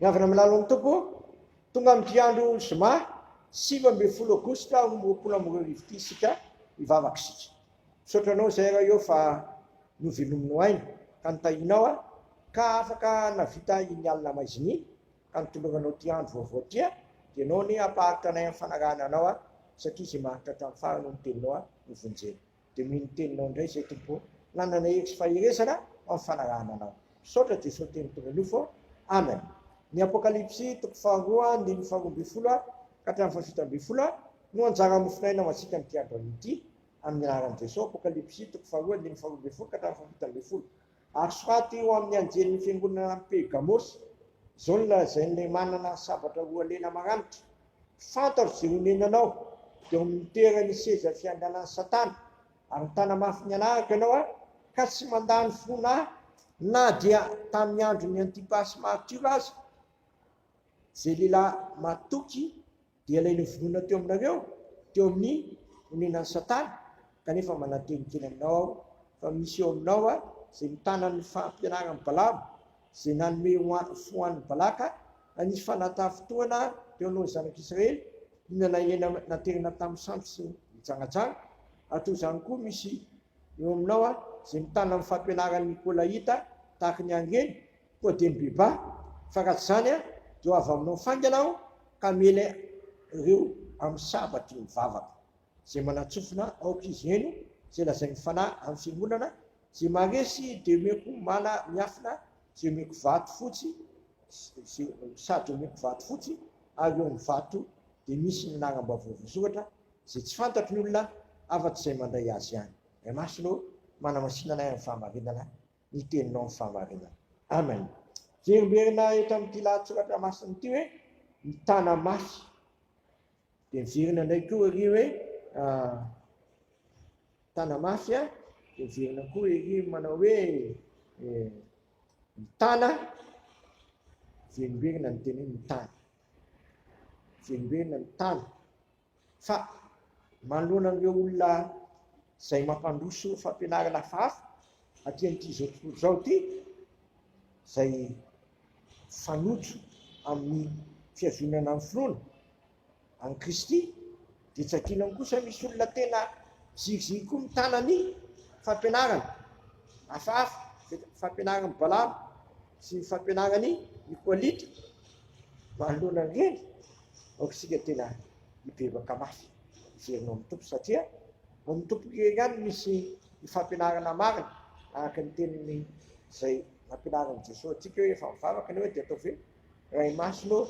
Miangona amin'ny lalan'ny Tompo, tonga amin'ity andro zoma sivy ambin'ny folo aogositra roapolo amby roa arivo ity isika hivavaka isika. Misaotra anao izay raha eo fa novelominao aina ka notahianao aho ka afaka navita iny alina maizina iny ka nitoloranao ity andro vaovao ity aho dia ianao anie hampaharitra anay amin'ny fanarahana anao aho satria izay maharitra hatramin'ny farany hono ny teninao aho novonjena. Dia mino ny teninao indray izay Tompo ô. Nanana hery sy faherezana amin'ny fanarahana anao. Misaotra Jesoa teny toro nofo ô. Amen. Ny Apokalypsy toko faharoa andininy faharoa ambin'ny folo ka hatramin'ny fahafito ambin'ny folo no anjara mofonaina ho antsika amin'ity andro anio ity. Amin'ny anaran'i Jesoa. Apokalypsy toko faharoa andininy faharoa ambin'ny folo ka hatramin'ny fahafito ambin'ny folo. Ary soraty eo amin'ny anjelin'ny fiangonana any Pergamosy izao ny lazain'ilay manana ny sabatra roa lena maranitra, Fantaro izay onenanao, dia ao amin'ny toeran'ny seza fiandrianan'i Satana, ary mitana mafy ny hanaraka ianao aho, ka tsy mandà ny finoana ahy, na dia tamin'ny andron'i Antipasy maritiora aza, izay lehilahy matoky. Dia ilay novonoina teo aminareo, teo amin'ny onenan'i Satana, kanefa mananteny kely aminao aho fa misy eo aminao izay mitana ny fampianaran'i Balama, izay nanome fo ho an'i Balaka, nanisy fanataham-potoana teo alohan'ny zanak'Israely, inona na inona naterina tamin'ny sampy sy ny jangajanga, ary toy izany koa misy eo aminao izay mitana ny fampianaran'ny Nikolaita, tahaka ny an'i Reny, Koa dia mibebaha, fa raha tsy izany aho dia ho avy aminao faingana aho ka hamela ireo amin'ny sabatry ny vavako. Izay manatsofina aoka izy heno izay lazain'ny Fanahy amin'ny Fiangonana, izay maharesy dia omeko mana miafina, izay omeko vato fotsy, sady omeko vato fotsy, ary eo amin'ny vato dia misy ny laharam-baovao voasoratra, izay tsy fantatry ny olona afa-tsy izay mandray azy ihany. Ry masony ô, manamasina anay amin'ny fahamarinana, ny teninao ny fahamarinana. Amen. Verimberina eto amin'ity lahatsoratra masina ity hoe mitana mafy. Dia miverina indray koa ery hoe ah, mitana mafy ah, dia miverina koa ery manao hoe eh, mitana, verimberina ny teniny mitana. Verimberina mitana. Fa manoloana an'ireo olona izay mampandroso fampianarana hafahafa aty amin'ity izao tontolo izao ity, izay fanojo amin'ny fihazonana ny finoana an'i Kristy, dia tsy adinony kosa misy olona tena ziriziry koa mitana ny fampianarana hafahafa, fampianaran'i Balama sy ny fampianaran'i Nikoalita manoloana an'ireny. Aoka isika tena hibebaka mafy hijery ny ao amin'ny Tompo satria ao amin'ny Tompo irery ihany misy ny fampianarana marina araka ny teniny izay nampianarin'i Jesoa antsika hoe rehefa mivavaka ianao dia ataovy hoe Ray Masina ô,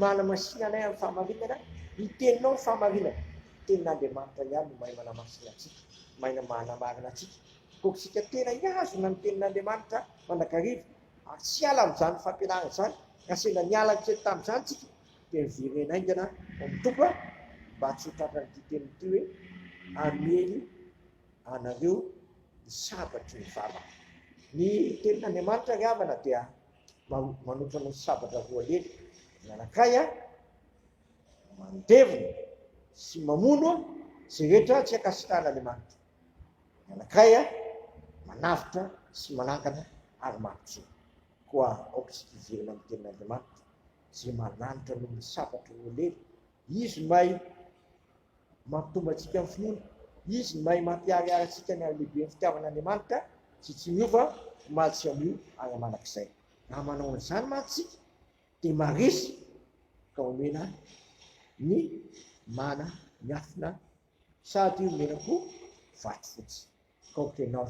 manamasina anay amin'ny fahamarinana, ny teninao ny fahamarinana, tenin'Andriamanitra ihany no mahay manamasina antsika, mahay manamarina antsika. Koa isika tena hihazona ny tenin'Andriamanitra mandrakariva Ary tsy hiala amin'izany fampianarana izany, ka sendra niala kely tamin'izany isika dia miverena haingana ho amin'ny Tompo a! mba tsy ho tratran'ity teniny ity hoe, Hamely anareo ny sabatry ny vavako. Ny tenin'Andriamanitra ry havana dia manotra anao sabatra roa lely, ny anankiray a, mandevona sy mamono izay rehetra tsy ankasitrahan'Andriamanitra. Ny anankiray a, manavotra sy manangana ary mampijono. Koa aoka isika hiverina amin'ny Tenin'Andriamanitra, izay mananitra noho ny sabatra ho lery. Izy no mahay mampitombo antsika amin'ny finoana. Izy no mahay mampiharihary antsika ny halehiben'ny fitiavan'Andriamanitra izay tsy miova omaly sy anio ary mandrakizay. Raha manao an'izany mantsy isika, dia marisika ka omena ny mana miafina Sady io mena koa vato fotsy. Kaoka ianao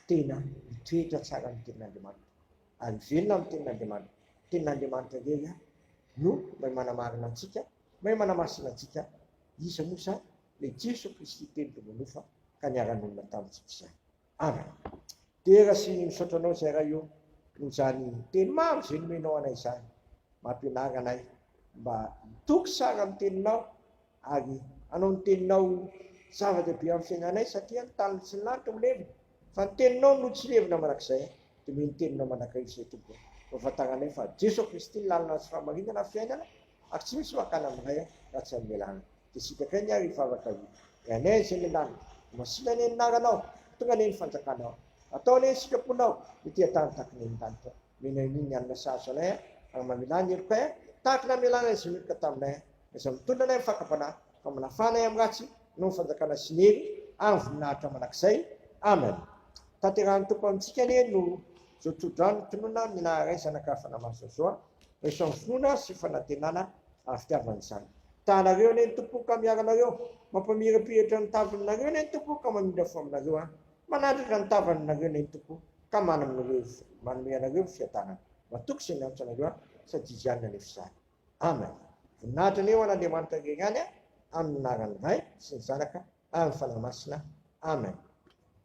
tena mitoetra tsara amin'ny tenin'Andriamanitra ary velona amin'ny tenin'Andriamanitra. Ny tenin'Andriamanitra irery no mahay manamarina antsika, mahay manamasina antsika. Iza moa izany? Ilay Jesoa Kristy teny teo ambony ora ka niara-nonina tamintsika izany. Andra. Dera sy misaotra anao Zay Ray o noho izany teny maro izay nomenao anay izany. Mampianara anay mba hitoky sara amin'ny teninao ary hanao ny teninao ho zava-dehibe amin'ny fiainanay satria ny tany sy ny lanitra ho levona fa ny teninao no tsy levona mandrakizay. Diniho ny teninao mandrakariva izay Tompo o. Ampahafantaranay fa Jeso Kristy ny lalana sy fahamarinana ary fiainana. Ary tsy misy makana aminay an, raha tsy amelana dia sitraka eny ary hivavaka io ny anay izay miandany Ho masina anie ny naranao Tonga anie ny fanjakanao Atao anie ny sitraponao Ny tean-tany tahaka ny eny an-danitra Omena anie ny alina sahazo anay an Ary mamelà ny helokay an Tahaka ny amelana izay meloka taminay an Na izay mitondra anay amin'ny fakam-panahy Fa manafà anay amin'ny ratsy Anao ny fanjakana sy ny hery Ary ny voninahitra mandrakizay Amen Tanterahin'ny Tompo amintsika anie no Zao tso-drano ny tononina Ny naha-ray zanaka Fa naha-maso azy zao an. Rehefa finoana sy fanantenana ary fitiavana izany. Tahanareo anie ny Tompo ka miaro anareo, mampamirapiratra ny tavanareo anie ny Tompo ka mamindra fo aminareo an! Manandratra ny tavanareo anie ny Tompo ka manome anareo manome anareo fiadanana. Matoky izay miantso anareo an! Sady Izy ihany no hanefa izany. Amen! Voninahitra anie ho an'Andriamanitra irery ihany an! Amin'ny anaran'ny Ray sy ny Zanaka ary ny Fanahy Masina. Amen!